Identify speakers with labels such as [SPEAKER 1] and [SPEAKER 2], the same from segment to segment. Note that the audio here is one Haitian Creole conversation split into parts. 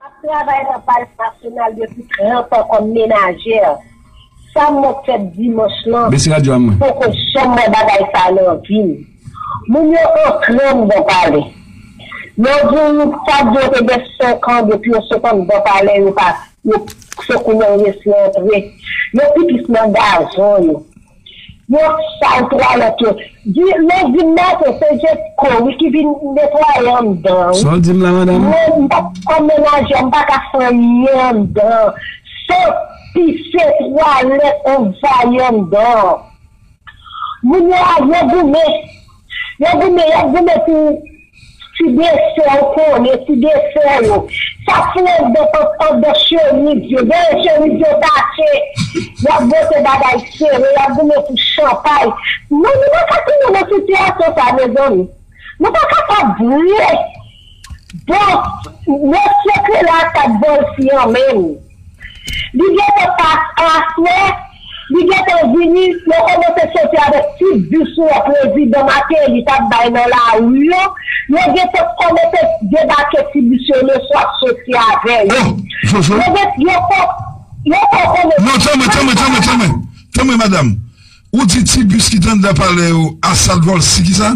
[SPEAKER 1] Ap travay nan Palè Nasyonal depi 30 an kòm menajè. Sa m wè fèt dimanch lan, m poko janm wè bagay sa nan vi m. Moun yo antre anndan palè. Yo di w sa k di yo te gen 5 an depi yo sot anndan palè yo pa se kounye a yo resi antre. Yo pi plis nan gazon yo. Yo sal twalèt yo. Di lèw dim Marco se Jesco wi ki vin netwaye andan wi. Saw dim la madam?
[SPEAKER 2] Mwen m pap kòm
[SPEAKER 1] menajè m paka fè anyen andan san pise twalèt anvayi andan. Moun yo a yo goumen. Yo goumen, y ap goumen pou ti desè ou konnen, ti desè yo. Sa k fou anndan pant, anndan chemiz yo. Dèyè chemiz yo tache. Y ap vote bagay sere, y ap goumen pou chanpay. Non, nou pa ka tounen nan sitiyasyon sa a, mezanmi. Nou pa kapab vre! Bon Mot secret la tap bol sian menm Li gentan pas aswè Li gentan vini yo komanse soti avek tut diswa prezidan mateli tap bay nan lari yo yo gentan komanse debake ti bis yo le swa ap soti avè yo yo gen yo fo yo fo konnen
[SPEAKER 3] Non tanmen tanmen tanmen tanmen tanmen madam ou di ti bis ki t andan palè yo a sat vol si kisa?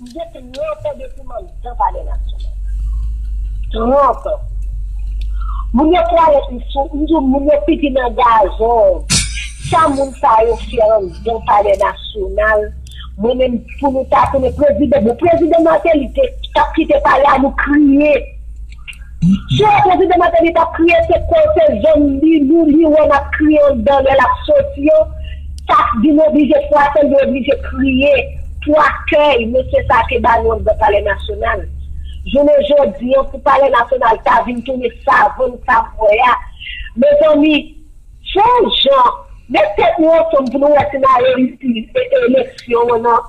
[SPEAKER 1] M gen tranp depi m anndan palè nasyonal. Tranp. Moun yo prale m sou, m di w moun yo pipi nan gazon. Sa moun sa yo fè anndan palè nasyonal, mwen menm pou nou ta tounen prezidan, bon prezidan Martelly te, t ap kite palè a nou kriye. Swen prezidan Martelly tap kriye se kote zòn Lilou li wè nap kriye andan lè lap soti yo sa vin oblije fwase li oblije kriye pou akèy mesye sa te ba nou andan palè nasyonal jounen jodi an pou palè nasyonal ta vin tounen savann sa m wè a mezanmi son jan met tèt nou ansanm pou nou wè si na reyisi mete eleksyon an nan.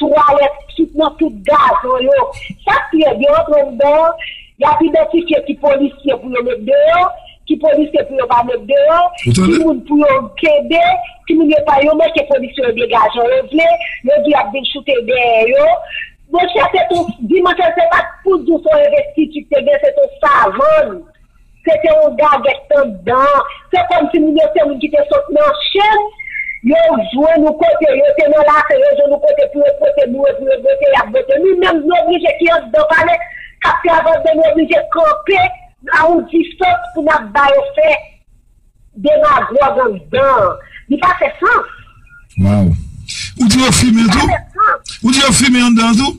[SPEAKER 1] Twalèt sot nan tout gazon yo. Sa k pi rèd, yo rantre yon bò, y ap idantifye ki polisye pou yo met deyò, ki polisye pou yo pa met deyò, ki moun pou yo kenbe, ki moun yo pa. Yo manke polisye yo dega jan yo vle, yo di y ap vin choute dèyè yo. Monchè, se t on, di monchè, se pa t pou di w se yon envestiti k te gen, se t on savann. Se te yon gagèt anndan an. Se kòmsi moun yo se moun ki te sot nan chenn, yo jwenn yon kote, yo te nan lafen, yo jwenn yon kote pou yo pote boure, pou yo bote, y ap bote. Nou menm nou oblije ki anndan pale, k ap fè avantè nou oblije kanpe a yon distans pou n ap ba yo fè demagòg anndan an. Li pa fè sans. Waww.
[SPEAKER 2] Ou di yo
[SPEAKER 3] fimen tou? Li pa fè sans. Ou di yo fimen anndan an tou?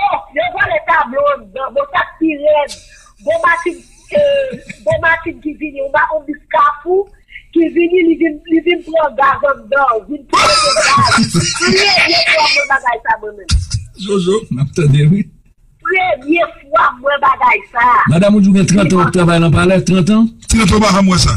[SPEAKER 3] Oh yo
[SPEAKER 1] vòlè tablo andan bon sak pi rèd gon machin gon machin ki vini yon ba yon bis kafou ki vini li vin li vin pran gaz andan vin pou mete gaz premye fwa mwen bagay sa mwen menm. Zozo
[SPEAKER 2] map tande wi. Premye
[SPEAKER 1] fwa mwen bagay sa. Madam ou di ou gen 30 an
[SPEAKER 2] wap travay lan palè 30 an. Trant ou pa janm wè sa.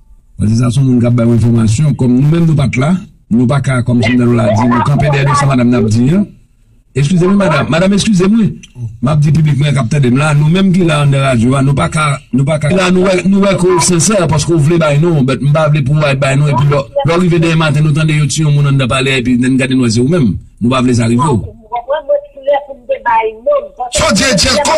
[SPEAKER 1] Mwen di sa son moun kap
[SPEAKER 2] bay w enfòmasyon kòm nou menm nou pat la nou pa ka kòm si m nan nou la di nou kanpe dèyè sa madam nan ap di an eskize mwen madam madam eskize mwen map di piblik mwen kap tande m la nou menm ki la an nan radyo a nou pa ka nou pa ka la nou wè ke w sensè paske w vle bay non w bèt m pa vle pou w al bay non epi lò lò w rive demen maten nou tande yo tiye yon moun anndan pale a epi n gade nou wè se ou menm nou pa vle sa rive w.
[SPEAKER 3] Sa w di e Djeko?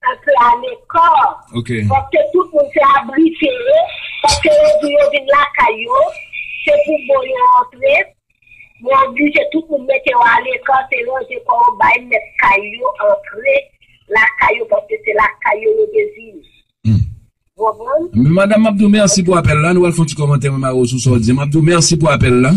[SPEAKER 2] Sa se
[SPEAKER 1] alekò. Ok. Paske
[SPEAKER 2] tout moun
[SPEAKER 1] se abrite yo. Paske yo di yo vin lakay yo. Se pou bon yo antre. Yo oblije tout moun mete yo alekò. Se ranje kò yo bay mèt kay yo antre lakay yo. Paske se lakay yo yo te vin. Hum. Ou
[SPEAKER 2] konprann? Madam, m ap di w mèsi pou apèl la. Nou pral fè yon ti kòmantè mwen mare w sou sa w di. M ap di w mèsi pou apèl la.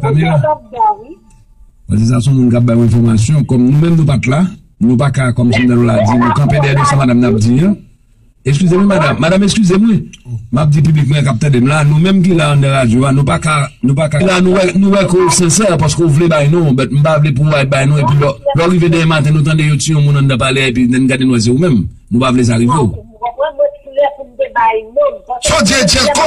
[SPEAKER 2] Pamela. Mwen di sa son moun kap bay mwen enfòmasyon kòm nou menm nou pat la nou pa ka kòm si nou la di nou kanpe dèyè nou sa madam nan ap di an eskize mwen madam madam eskize mwen map di piblik mwen kap tande m la nou menm ki la anndan radyo a nou pa ka nou pa ka nou wè ke ou sensè paske ou vle bay non ou bèt m pa vle pou ou al bay non epi lò lò rive demen maten nou tande yo ti yon moun anndan pale a epi lè n gade nou wè se ou menm nou pa vle sa rive ou.
[SPEAKER 3] Sa w di e Djerko?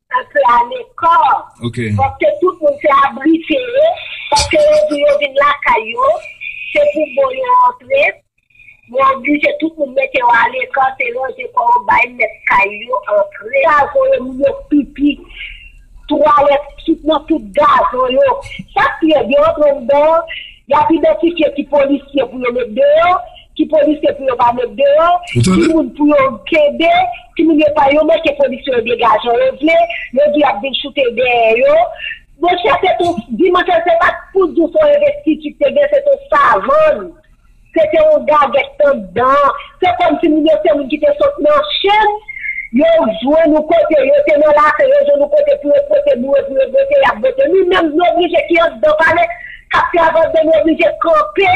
[SPEAKER 2] Sa se
[SPEAKER 1] alekò. Ok. Paske
[SPEAKER 2] tout moun se
[SPEAKER 1] abrite yo. Paske yo di yo vin lakay yo. Se pou bon yo antre. Yo oblije tout moun mete yo alekò. Se ranje kò yo bay mèt kay yo antre. Gazon yo moun yo pipi. Twalèt sot nan tout gazon yo. Chak pied yo antre anndan. Y ap idantifye ki polisye pou yo met deyò. Ki polisye pou yo pa met deyò, ki moun pou yo kenbe, ki moun yo pa yo manke polisye yo dega jan yo vle, yo di yap vin choute dèyè yo. Monchè se ton Dimanche se pat pou di w son envestiti k te gen se ton savann, se te yon gagèt anndan, se kòm si moun yo se moun ki te sot nan chen, yo jwenn yon kote, yo te nan lafen yo jwenn yon kote pou yo pote boure pou yo bote yap bote. Nou menm nou oblije ki anndan palè kap travay anndan nou oblije kanpe.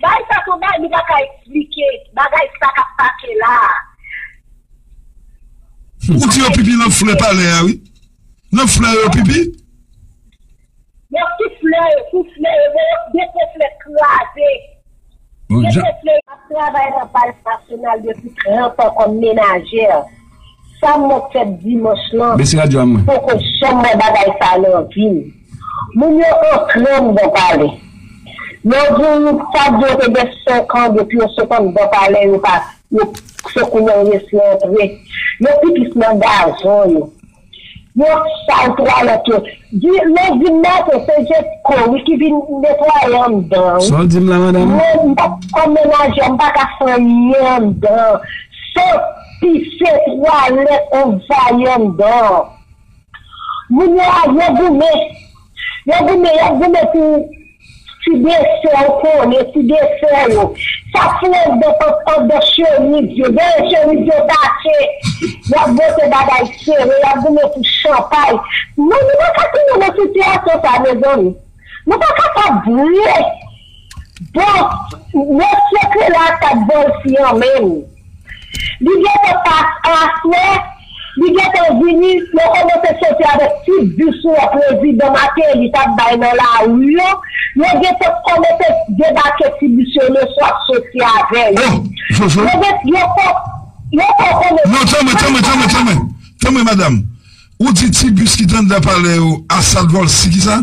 [SPEAKER 1] Bay sa son bay li pa ka esplike bagay sa kap pase la a. Ou di yo pipi nan
[SPEAKER 3] flè palè a wi. Nan flè yo pipi?
[SPEAKER 1] Yo sou flè yo, sou flè yo, yo depo flè kraze. Mesye Fleury ap travay nan Palè Nasyonal depi 30 an kòm menajè. Sa m wè k fèt dimanch lan, m poko janm wè bagay sa a nan vi m. Moun yo antre anndan palè. Lè w di m sa di yo te gen 5 an depi yo sot anndan palè yo pa, se kounye a yo resi antre. Yo pi plis nan gazon yo. Yo sal twalèt yo. Di lèw dim Marco se Jesco wi ki vin netwaye andan wi. Saw dim la madam?
[SPEAKER 2] Mwen m pap kòm
[SPEAKER 1] menajè m paka fè anyen andan san pise twalèt anvayi andan. Moun yo a yo goumen. Yo goumen, y ap goumen pou ti desè ou konnen, ti desè yo. Sa k fè andan pant, andan chemiz yo. Dèyè chemiz yo tache. Y ap bote bagay sere, y ap goumen pou chanpay. Non, nou pa ka tounen nan sitiyasyon sa a, mezanmi. Nou pa kapab vre! Bon Mot secret la sak bon isi an menm Li gentan pas an aswè Li gentan vini yo komanse soti avek tut diswa prezidan Mateli tap bay nan lari yo yo gentan komanse debake ti bis yo le swa ap soti avè yo Oh Jojo Yo gen yo fo yo fo konnen
[SPEAKER 3] Non tanmen tanmen tanmen tanmen tanmen madam ou di ti bis ki t andan palè yo a sat volcy kisa?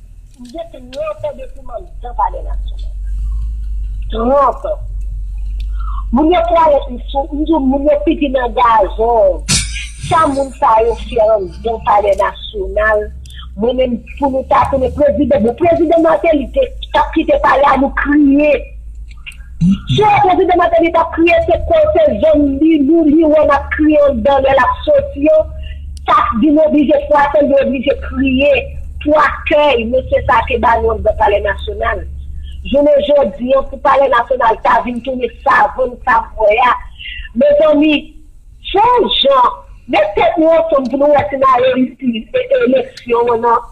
[SPEAKER 3] M gen
[SPEAKER 1] tranpè depi m anndan palè nasyonal. Tranpè. Moun yo twalèt m sou, m di w moun yo pipi nan gazon. Sa moun sa yo fè anndan palè nasyonal, mwen menm pou nou ta tounen prezidan, bon prezidan Martelly te, t ap kite palè a nou kriye. Sè prezidan Martelly tap kriye se kote zong li lou li wè nap kriye andan lè lap soti yo sa k vin oblije fwase l li oblije kriye pou akèy mesye sa te ba nou andan palè nasyonal jounen jodi an pou palè nasyonal ta vin tounen savann sa m wè a mezanmi son jan met tèt nou ansanm pou nou wè si n areyisi mete eleksyon an nan.